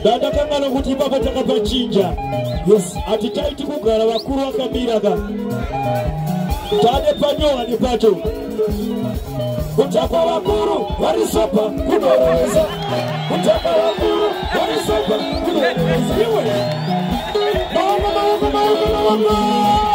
ndandakangana kuti ipapa takapachinja yes hatichaiti kugara vakuru vakamira ka tane panyowani pacho kutakwa vakuru vari sopa kunorowesa kutakwa vakuru vari sopa kunorowesa iwe maoko maoko maoko maoko